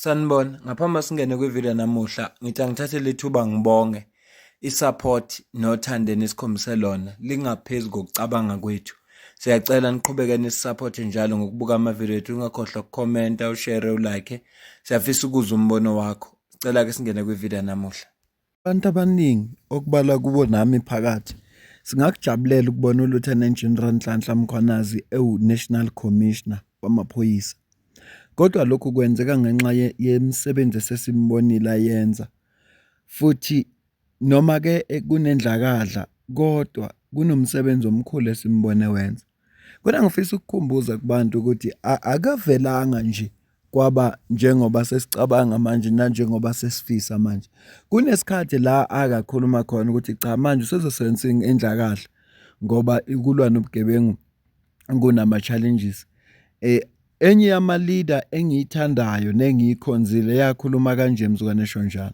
Sanibona, ngaphambi singene kwivideo namuhla ngithi angithathe lethuba ngibonge i-support nothando enikhombise lona lingaphezu kokucabanga kwethu. Siyacela niqhubeke nisi-support njalo ngokubuka amavideo ethu ungakhohlwa ukukhomenta, ushare, ulike. Siyafisa ukuzwa umbono wakho. Sicela-ke singene kwivideo namuhla. Abantu abaningi okubalwa kubo nami phakathi singakujabulela ukubona uLieutenant General Nhlanhla Mkhwanazi ewu-National Commissioner wamaphoyisa. Kodwa lokhu kwenzeka ngenxa yemisebenzi esesimbonile ayenza futhi noma-ke kunendlakadla kodwa kunomsebenzi omkhulu esimbone wenza. Kodwa ngifisa ukukhumbuza kubantu ukuthi akavelanga nje kwaba njengoba sesicabanga manje nanjengoba sesifisa manje kunesikhathi la akakhuluma khona ukuthi cha manje usezosebenza indla kahle ngoba ikulwa nobugebengu kunama challenges eh enye yama leader engiyithandayo nengiyikhonzile yakhuluma kanje mzukwane Shonjana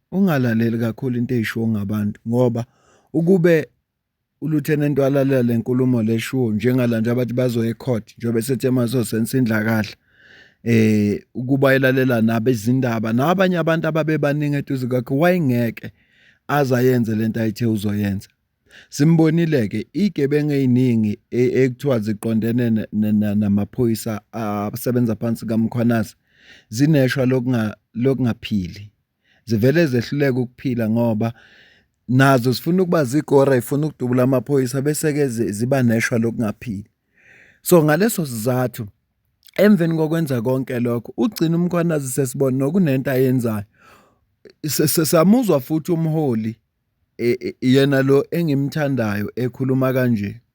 Ungalaleli kakhulu into eyishiwo ngabantu ngoba ukube uLieutenant walalela le nkulumo leshiwo njengala nje abathi bazoya ecourt njengoba sethi emazosensa indlakadla eh ukuba elalela nabezindaba nabanye abantu ababebaningi eduze kwakhe wayengeke azayenze lento ayithe uzoyenza simbonile ke igebengu eziningi e, ekuthiwa ziqondene namaphoyisa asebenza phansi kaMkhwanazi zineshwa lokunga lokungaphili zivele zehluleke ukuphila ngoba nazo zifuna ukuba zigora ifuna ukudubula amaphoyisa bese ke ziba neshwa lokungaphili so ngaleso sizathu emveni kokwenza konke lokho ugcina umkhwanazi sesibona nokunento ayenzayo sesamuzwa futhi umholi e, e, yena lo engimthandayo ekhuluma kanje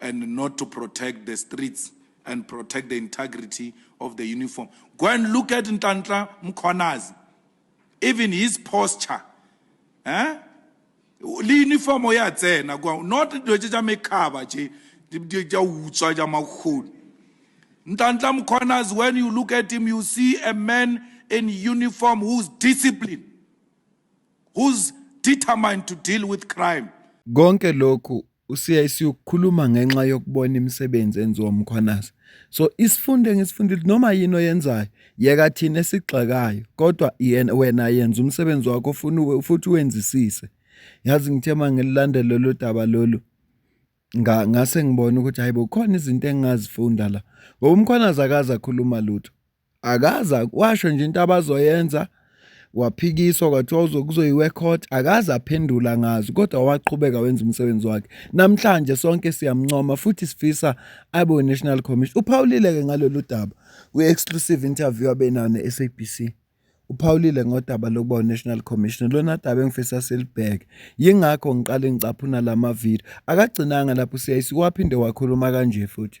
and not to protect the streets and protect the integrity of the uniform. Go and look at Ntantla Mkhonazi. Even his posture. Eh? le uniform ya tsena kwa not dilo tse tsa mekgaba tse di tsa utswa tsa makgoni ntantla mkhonas when you look at him you see a man in uniform who's disciplined who's determined to deal with crime konke lokhu usiya isiyokukhuluma ngenxa yokubona imisebenzi enziwa umkhwanazi so isifundo engisifundile noma yini oyenzayo yeka thina esigxekayo kodwa yena wena yenza umsebenzi wakho ufuna futhi wenzisise yazi ngithe mangilandela lolu daba lolu ngase ngibona ukuthi hayibo khona izinto engingazifunda la ngoba umkhwanazi akaze akhuluma lutho akaze washo nje into abazoyenza waphikiswa kwathiwa uzokuzoyiwe court akaze aphendula ngazo kodwa waqhubeka wenza umsebenzi wakhe namhlanje sonke siyamncoma futhi sifisa abe we-national commission uphawulile-ke ngalolu daba kwi-exclusive interview abenayo ne-sabc uphawulile ngodaba lokuba unational commission lona daba engifisa silibheke yingakho ngiqale ngicaphuna la mavidiyo akagcinanga lapho ucc waphinde wakhuluma kanje futhi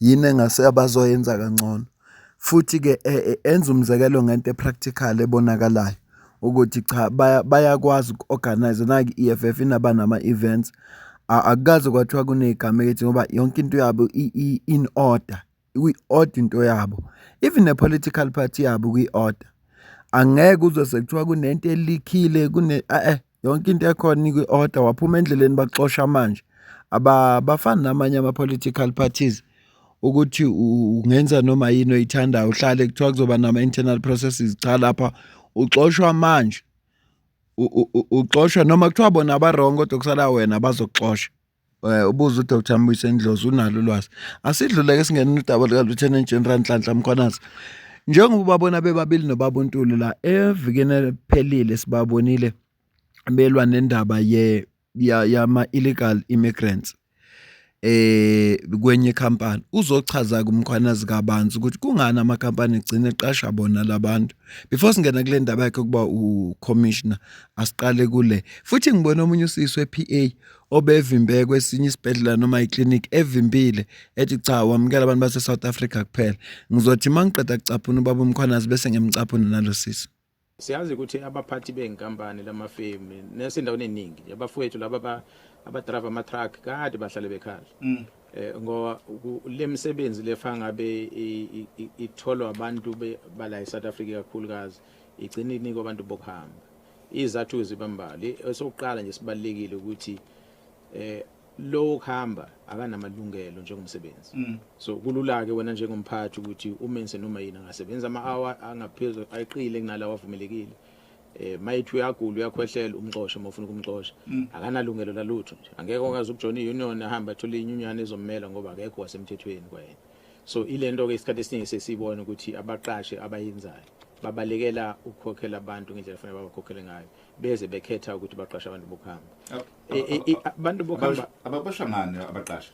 yini engase abazoyenza kangcono futhi-ke e, e, enza umzekelo ngento epractical ebonakalayo ukuthi cha bayakwazi uku-organize naki i-EFF inaba nama-events akukaze kwathiwa kunegama elithi ngoba yonke into yabo in order kwi-order into yabo even ne-political party yabo kwi-order angeke uzwe sekuthiwa kunento elikhile kune eh, eh. yonke into ekhona inikwa i-order waphuma endleleni bakuxosha manje abafani namanye ama-political parties ukuthi ungenza noma yini oyithandayo uhlale kuthiwa kuzoba nama-internal processes cha lapha uxoshwa manje uxoshwa noma kuthiwa bona aba-wrong kodwa kusala wena bazokuxosha. Eh, ubuza uDr Mbuyise Ndlozi unalo ulwazi asidluleke singena udaba lika Lieutenant General Nhlanhla Mkhwanazi njengoba ubabona bebabili nobaba uNtuli la evikeni eliphelile sibabonile belwa nendaba ye yama illegal immigrants eh kwenye company uzochaza kumkhwanazi kabanzi ukuthi kungani ama company egcina eqasha bona labantu before singena kule ndaba yakhe kuba u commissioner asiqale kule futhi ngibona omunye usisi wePA obevimbe kwesinye isibhedlela noma iclinic evimbile ethi cha wamukela abantu base-south africa kuphela ngizothi uma ngiqeda kucaphuna ubaba umkhwanazi bese ngiyamcaphuna nalo sisi siyazi ukuthi abaphathi bey'nkampani lamafemu nesendaweni eningi abafowethu laba abadrayiva ama-truck kade bahlale bekhala um ngoba le misebenzi lefa ngabe itholwa abantu bala e-south africa kakhulukazi igcine inikwa abantu bokuhamba Izathu zibambali esokuqala nje sibalekile ukuthi eh lowo khamba akanamalungelo njengomsebenzi mm. so kulula ke wena njengomphathi ukuthi umense noma yini angasebenza ama hour angaphezulu ayiqile kunalawa avumelekile eh mayithi uyagula uyakhwehlela umxoshe uma ufuna ukumxosha mm. akanalungelo lalutho nje angeke okazi ukujona iunion ahamba athola inyunyana ezommela ngoba akekho wasemthethweni kwayena so ilento ke isikhathi esiningi sesibona ukuthi abaqashe abayenzayo babalekela ukukhokhela abantu ngendlela efanele babakhokhele ngayo beze bekhetha ukuthi baqashe abantu bokuhamba e, e, e, abantu bokuhamba ababosha ngani abaqashe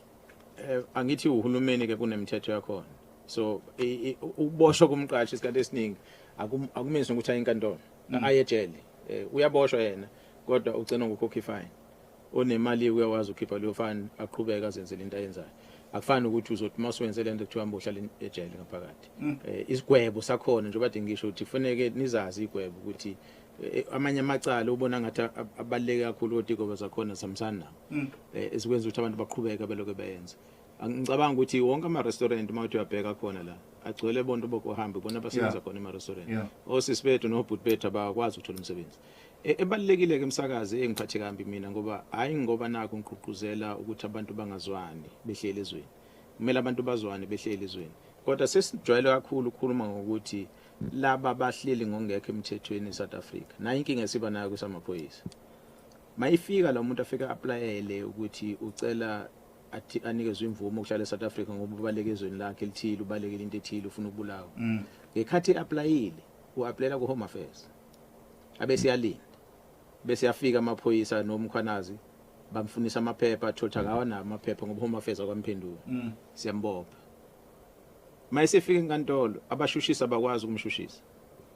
eh, angithi uhulumeni ke kunemithetho yakhona so ukuboshwa komqashi isikhathi esiningi akumenzi ukuthi ayinkantolo mm. ayejele eh, uyaboshwa yena kodwa ugcina ngokukhokha ifine onemali uyakwazi ukhipha leyo fine aqhubeke azenzele into ayenzayo akufani ukuthi uzothi uma usuwenze le nto kuthiwa mbohlala ejele ngaphakathi um isigwebo sakhona njengoba de ngisho ukuthi kufaneke nizazi igwebo ukuthi eh, amanye amacala ubona ngathi abaluleke kakhulu kodwa igwebo zakhona zihambisani nawo um esikwenza ukuthi abantu baqhubeke beloke beyenze ngicabanga ukuthi wonke ama-restaurant uma uthi uyabheka khona la agcwele bonto bokuhamba ibona abasebenza khona ema-restaurant osisi bethu nobhuti bethu abakwazi ukuthola umsebenzi E, ebalulekile ke msakazi engiphathe kambi mina ngoba hayi ngoba naku ngigqugquzela ukuthi abantu bangazwani behleli ezweni kumele abantu bazwane behleli ezweni kodwa sesijwayele kakhulu ukukhuluma ngokuthi laba bahleli ngongekho emthethweni eSouth Africa nayo inkinga esiba nayo kusamaphoyisa mayifika la muntu afika applyele ukuthi ucela athi anikezwe imvume ukuhlala eSouth Africa ngoba ubaleke ezweni lakhe elithile ubalekile into ethile ufuna ukubulawa mm. ngekhathi applyile uapplyela ku Home Affairs abese yalinda bese yafika amaphoyisa nomkhwanazi bamfunisa amaphepha athothi akawa nawo amaphepha ngoba home affairs akwamphendula mm. siyambopha uma esefika enkantolo abashushisa bakwazi ukumshushisa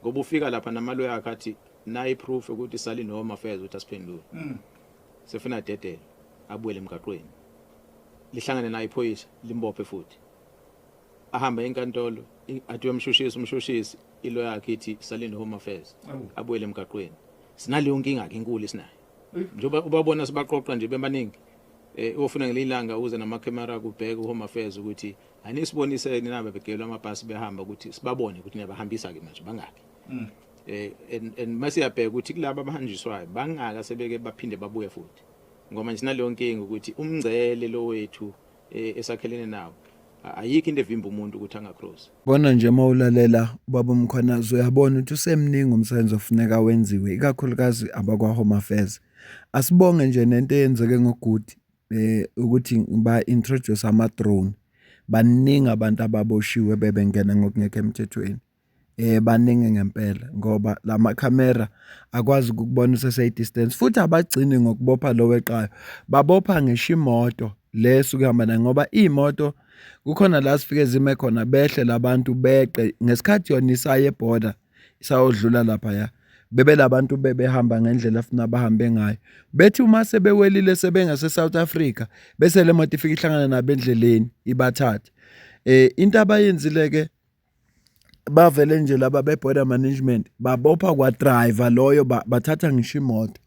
ngoba ufika lapha namalo yakhe athi nayi proof ukuthi sali no home affairs ukuthi asiphendule mm. sefuna dedele abuyele emgaqweni lihlangane naye iphoyisa limbophe futhi ahambe enkantolo athi uyomshushisa umshushisi ilo yakhe ithi salinde home affairs abuyele emgaqweni sinaleyo nkinga ke inkulu esinayo njengoba ubabona sibaqoqa nje bemaningi eh ofuna ngelilanga uze nama camera kubheka home affairs ukuthi anisibonise ninaba begelwa amabhasi behamba ukuthi sibabone ukuthi niyabahambisa ke manje bangaki mm. eh and and masiyabheka ukuthi kulabo abahanjiswayo bangaka sebeke baphinde babuye futhi ngoba nje sinaleyo nkinga ukuthi umngcele lo wethu e, esakhelene nawo ayikho into evimba umuntu ukuthi angacross bona nje uma ulalela ubaba umkhwanazi uyabona ukuthi usemningi umsebenzi ofuneka wenziwe ikakhulukazi abakwa-home affairs asibonge nje nento eyenzeke ngoguti um eh, ukuthi ba-introduce ama-drone baningi abantu ababoshiwe bebengena ngokungekho emthethweni Baningi ngempela ngoba la makhamera akwazi ukukubona usese-distance futhi abagcini ngokubopha lo weqayo, babopha ngisho imoto le esuke ihamba naye ngoba iy'moto kukhona la zifike zime khona behle la bantu beqe. Ngesikhathi yona isaya e-border isayodlula laphaya bebe la bantu bebehamba ngendlela afuna bahambe ngayo, bethi uma sebewelile sebengase-South Africa bese le moto ifike ihlangana nabo endleleni ibathathe. Into abayenzile-ke bavele nje laba be-border management babopha kwa-driver loyo bathatha ngisho imoto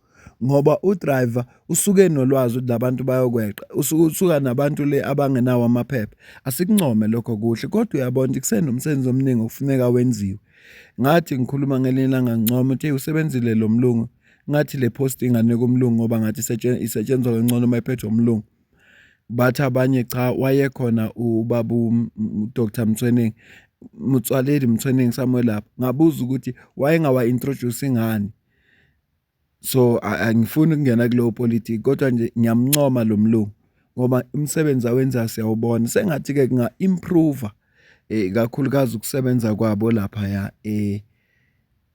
ngoba u-driver usuke enolwazi ukuthi la bantu bayokweqa usuke usuka nabantu le abangenawo amaphepha. Asikuncome lokho kuhle kodwa uyabona ukuthi kusenomsebenzi omningi okufuneka wenziwe. Ngathi ngikhuluma ngelinye ilanga ngincoma ukuthi eyi usebenzile lo mlungu, ngathi le post inganikwa umlungu ngoba ngathi isetshenzwa kangcono uma iphethwe umlungu. bathi abanye cha wayekhona ubaba uDr Mthweningi Motsoaledi Mthweningi somewhere lapho ngabuza ukuthi wayengawa introduce ngani so angifuni ukungena kuleyo politiki kodwa nje ngiyamuncoma lo mlungu ngoba umsebenzi awenzayo siyawubona. Sengathi-ke kunga-improve-a kakhulukazi ukusebenza kwabo laphaya .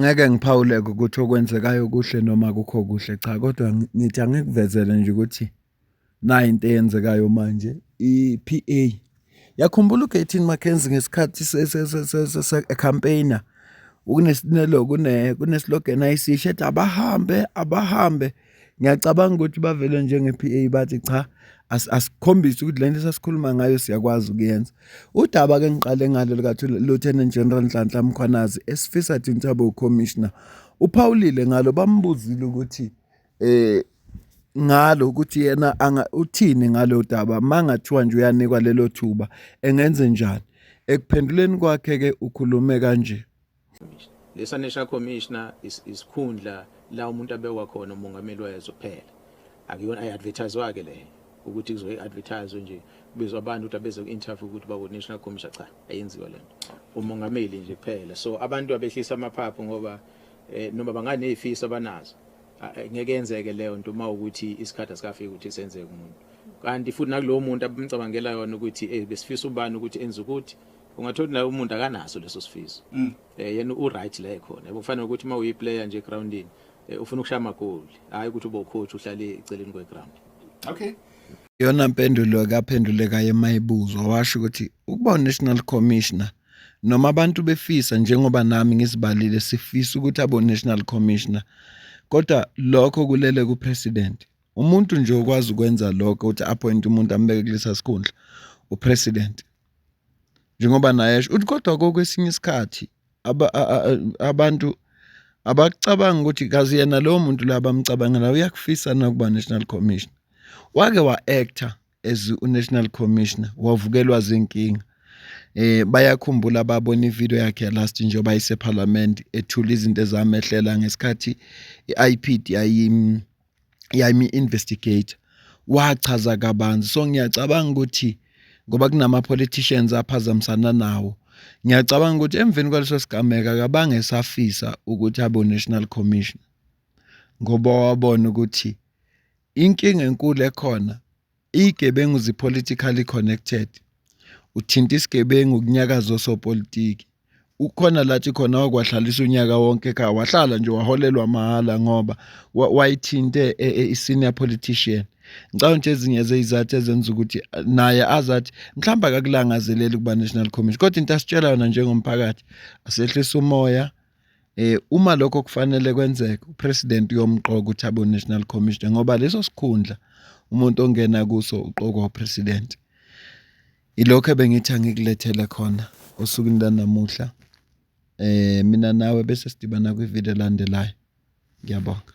ngeke ngiphawuleke ukuthi okwenzekayo kuhle noma kukho kuhle cha kodwa ngithi angikuvezele nje ukuthi nayo into eyenzekayo manje i-PA yakhumbula uGatin McKenzie ngesikhathi se-campaigner ukunesinelo kuneslogan ayisisho ethi abahambe abahambe ngiyacabanga ukuthi bavele njenge-PA bathi cha asikhombise ukuthi lento esasikhuluma ngayo siyakwazi ukuyenza udaba ke ngiqale ngalo lika Lieutenant General Nhlanhla Mkhwanazi esifisa thina sabo commissioner uphawulile ngalo bambuzile ukuthi eh ngalo ukuthi yena anga uthini ngalo daba mangathiwa nje uyanikwa lelo thuba engenze njani ekuphenduleni kwakhe ke ukhulume kanje Lesa National Commissioner isikhundla la umuntu abekwa khona umongameli wezwe kuphela. Akuyona i-advertise ke le ukuthi kuzoyi advertise nje kubizwa abantu ukuthi abeze ku-interview ukuthi baku National Commissioner cha ayenziwa lento. Umongameli nje kuphela. So abantu abehlisa amaphaphu ngoba eh, noma banganezifiso abanazo ngeke yenzeke leyo nto uma ukuthi isikhathi asikafiki ukuthi senzeke umuntu kanti futhi nakulowo muntu abamcabangela yona ukuthi eh besifisa ubani ukuthi enze ukuthi ungathola ukuthi naye umuntu akanaso leso sifiso mm. eh yena u right la ekhona yebo kufanele ukuthi uma uyi player nje groundini eh, ufuna ukushaya amagoli hayi ukuthi ube ucoach uhlale eceleni kwe ground okay yona mpendulo kaphendule kaye mayibuzwa washo ukuthi ukuba national commissioner noma abantu befisa njengoba nami ngizibalile sifisa ukuthi abo national commissioner kodwa lokho kulele ku president umuntu nje okwazi ukwenza lokho ukuthi appoint umuntu ambeke kulesa sikhundla u president njengoba naye esho uthi kodwa kokwesinye isikhathi abantu abakucabanga ukuthi kazi yena lowo muntu la bamcabangela uyakufisa nakuba national commission wake wa-actor as unational commissioner wavukelwa zinkinga eh bayakhumbula babona ivideo yakhe last njengoba isephalamende ethula izinto ezamehlela ngesikhathi iIPD ayim yami investigator wachaza kabanzi so ngiyacabanga ukuthi ngoba kunama politicians aphazamisana nawo ngiyacabanga ukuthi emveni kwaleso sigameka kabange safisa ukuthi abo national commission ngoba wabona ukuthi inkinga enkulu ekhona Iyigebengu zi politically connected. Uthinta isigebengu kunyakaza osopolitiki. Ukhona lathi khona wakwahlalisa unyaka wonke ekhaya wahlala nje waholelwa mahhala ngoba wayithinte e, e, i-senior politician ngicabanga ukuthi ezinye zeyizathu ezenza ukuthi eh, naye azathi mhlawumbe akakulangazeleli ukuba national commission kodwa into asitshela yona njengomphakathi asehlisa umoya Eh uma lokho kufanele kwenzeke upresident uyomqoka ukuthi abo national commissioner ngoba leso sikhundla umuntu ongena kuso uqokwa upresident. Ilokho ebengithi angikulethele khona osukwini lanamuhla. Eh mina nawe bese sidibana kwi-video elandelayo. Ngiyabonga.